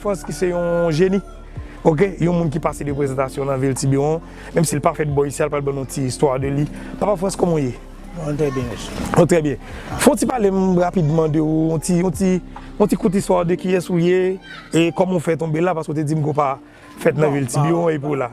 Frantz ki se yon jeni ok yon moun ki pase de prezantasyon nan vil tibiwon menm sil pa fèt bò isi al pral ban nou ti istwa de li papa frantz kòman ou ye mwen trè byen mesye ou trè byen fon ti pale m rapidman de ou yon ti yon ti yon ti kout istwa de kiyès ou ye e kòman ou fè tonbe la paske ou te dim ke ou pa fèt nan vil tibiwon epi w la.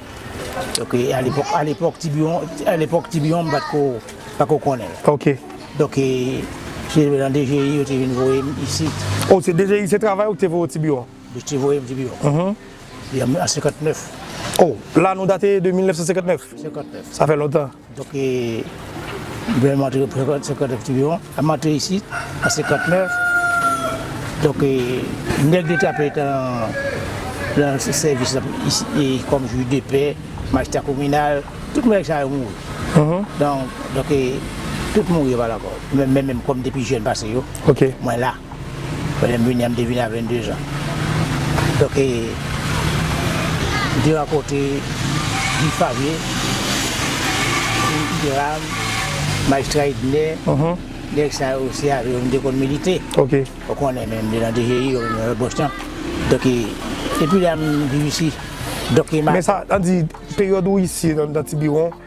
Donke a lepòk a lepòk tibiwon a lepòk tibiwon m patko pako konnen. Ok. Donke se nan DGI yo te vin voye m isit. Oh se DGI se travay ou ki te voye w tibiwon? Yo te voye m tibiwon. Uhmm. An 59. Oh la nou date de 1959? 59. Sa fè lontan. Donk e blan yo antre pran 59 tou yo ap antre isit an 59 donk e nèg yo ta pè tan lan sèvis lan e kòm jij de pè majistra kominal tout nèg sa yo mouri donk e tout mouri yo pa la kò mwen menm kòm depi jèn pase yo mwen la. Kote m vini an m te vini a 22 zan. Donk e m te rankontre Guy Favre, Hiram, Majistra Ednè, nèg sa yo se avè yo m te konn milite. Ou konnen men m te nan DGI, ou nan lòt bòs lan. Donk e depi lè a m viv isi. Men sa, an di peryòd ou isi nan Tibiwon.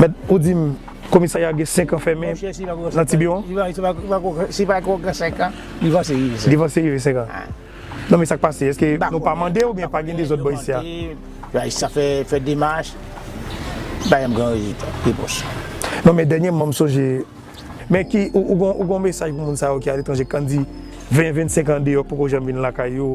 Mèt ou dim komisarya gen 5 an fèmen nan tibiwon? Si pa gen 5 an, li vanse rive 5 an. Li vanse rive 5 an. Non men sak pase? Eske nou pa mande ou byen pa gen dezòd bò isi a? Sa fè demach, pa janm gen rezilta, repons. Non men dènyèman m sonje, men ki ou gen yon mesaj pou moun sa yo ki aletranje kan di 20, 25 an deyò poko janm vin lakay yo?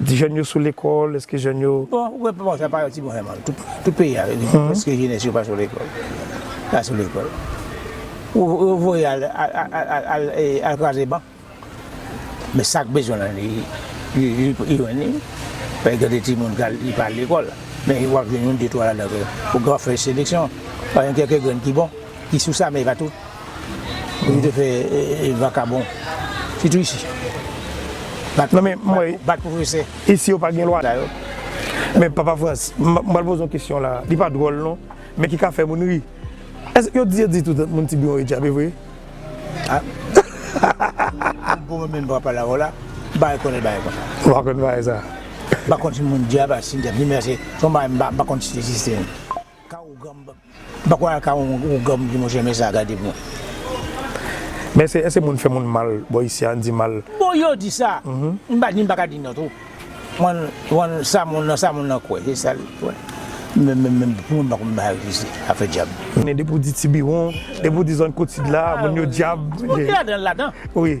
Di jèn yo sou lekòl, eske jèn yo. Bon, wè pa sa pa yon ti bon sa man. Tout peyi a vin di eske jenès yo pa sou lekòl. Pa sou lekòl. Yo voye al al kraze ban. Men sak bezwen lan li li jwenn li. Fè gen de timoun ki al pa al lekòl. Men wap jwenn yon de twa ladan yo pou gran fè seleksyon. Pa gen kèk grenn ki bon. ki sou sa men pa tout pou yo te fè vakabon sitou isi bat bat pwofesè isi yo pa gen lwa sa yo men papa frans m pral poze yon kesyon la li pa dwòl non men ki ka fè moun ri èske yo di yo di tout moun tiburon yo djape vre hahahaha m pou mwen menm m pa pale avè w la m pa rekònèt bagay konsa ou pa konèt bagay sa m pa konn si moun djape ak si n djape ni men se yon bagay m pa konn si l egziste menm. M pako al ka yon ougan m di mwen renmen sa gade bon. Men se eske moun fè moun mal bò isi an di mal. Bon yo di sa, m pa di m paka di non tou. Mwen mwen sa moun nan sa moun nan kwè se sal kwè. Men men men pou mwen m pako m bay ak isi afè dyab. Depi w di tibiwon, depi w di zòn kotsid la moun yo dyab. Bon ki ladan l ladan. Wi.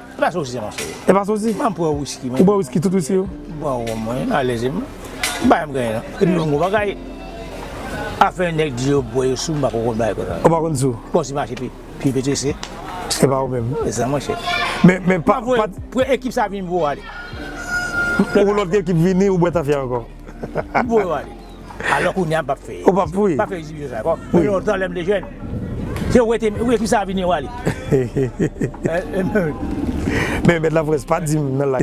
E pa sousi non cheri. E pa sousi? Banm pou yon whisky mwen. Ou bwè whisky tout whisky yo? M pran rhum mwen alèze m. Bay m genyen an. Epi yon gwo bagay. Afè nèg di yo bwè yo sou m pako konn bagay konsa. Ou pa konn sou? Bon si mache pi pi pete se. Se pa ou menm. Se sa mwen chè. Men men pa pa. Pou ekip sa vin m voye yo ale. Pou lòt ekip vini ou bwè tafya ankò. M voye yo ale. Alò kounye a m pap fè. Ou pap fè? M pap fè egzibisyon sa ankò. Mwen lontan lè m te jèn. Se ou ete, ou ekri sa vini ou ale. Men mèt laprès pa di m nan lay.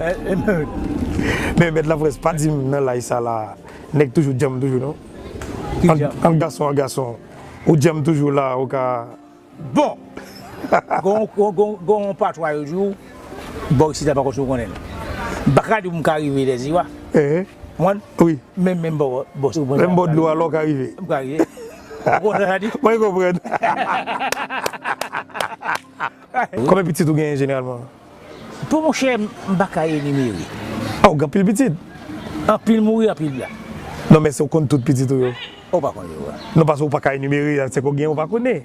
Men mèt laprès pa di m nan lay sa la a nèg toujou djanm toujou non. Ant gason ak gason ou djanm toujou la a ou ka. Bon! Gon yon patwa yo di ou bò isit la pa kòmsi ou konnen l. M pa ka di ou m ka rive Dèziwa. Konprann? Men menm bò bò sa. Menm bò dlo a la ou ka rive. M ka rive. Ou konprann sa sa di? Mwen konprann. Konbyen pitit ou genyen jeneralman? Pou monchè m pa ka enimere. Aw gen anpil pitit. Anpil mouri anpil blan. Non men se w konn tout pitit ou yo. Ou pa konn yo vre. Non paske ou pa ka enimere se ke w gen ou pa konnen.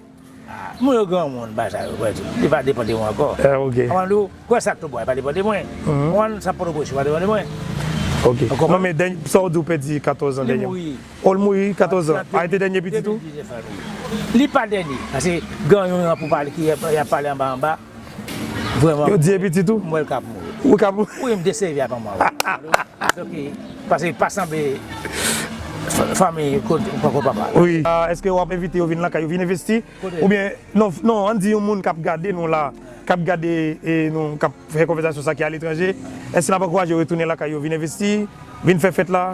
Moun yo granmoun bagay sa yo pèdi. Li pa depan de mwen ankò. Ok. Ou konprann ou kwè sa Tobowa li pa depan de mwen. Ou konprann sa Potoprens li pa depan de mwen. Ok. Ou konprann. Non men dènye sa w di ou pèdi 14 an dènye. Li mouri. O l mouri 14 an. A li te dènye pitit ou? Li pa dènye. Paske granmoun an pou pale ki yap pale anba anba. Vreman. Yo di e pitit ou? M wè l ka ap mouri. Ou ka ap mouri? Wi m te sèvi ak anmwa wi. Ok. Pase li pa sanble fanmi koko papa. Wi. Eske w ap envite yo vin lakay ou vin envesti? Kote? Oubyen non non ann di yon moun k ap gade nou la, k ap gade nou, k ap fè konvèzasyon sa ki aletranje, èske n ap ankouraje yo retounen lakay yo vin envesti, vin fè fèt la?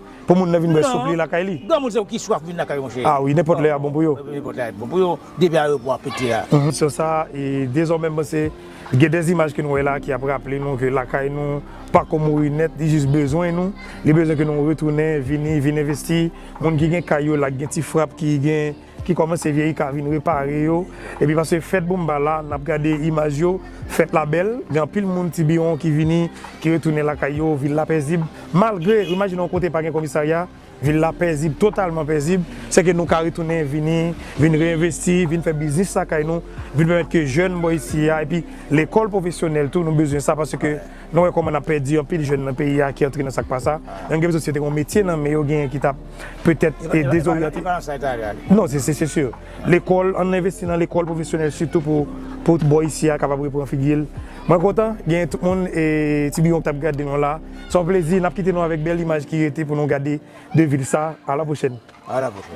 Pou moun nan vin bwè soup li lakay li. Non, granmoun se ou ki swaf vin lakay ou monchè. Ah wi, nenpòt lè a bon pou yo. Nenpòt lè a bon pou yo, depi ayewopò a pete a. Emisyon sa e dezòmè m panse gen dè imaj ke nou wè la ki ap raple nou ke lakay nou pako mouri nèt li jis bezwen nou, li bezwen ke nou retounen vini vin envesti moun ki gen kay yo la gen ti frap ki gen. ki kòmanse vyeyi ka vin repare yo epi pase fèt boumba la nap gade imaj yo fèt la bèl gen anpil moun tibiwon ki vini ki retounen lakay yo vil la pèzib malgre ou imajine yon kote pa gen komisarya vil la pèzib totalman pèzib se ke nou ka retounen vini vin reenvesti vin fè biznis lakay nou vin pèmèt ke jèn bò isi a epi lekòl pwofesyonèl tou nou bezwen sa paske nou wè kòman nap pèdi anpil jèn nan peyi a ki antre nan sak pa sa yon gen bezwen si yo te gen yon metye nan men yo gen ki tap. petèt e dezoryante. Non, se se sur. Lekòl, ann envesti nan lekòl pwofesyonèl sitou pou pou bò isi a kapab repran figi l. Mwen kontan, gen tout moun e ti biyon k t ap gade nou la. Se yon plezi, n ap kite nou avèk bèl imaj ki rete pou nou gade de vil sa. Alapwochèn. Alapwochèn.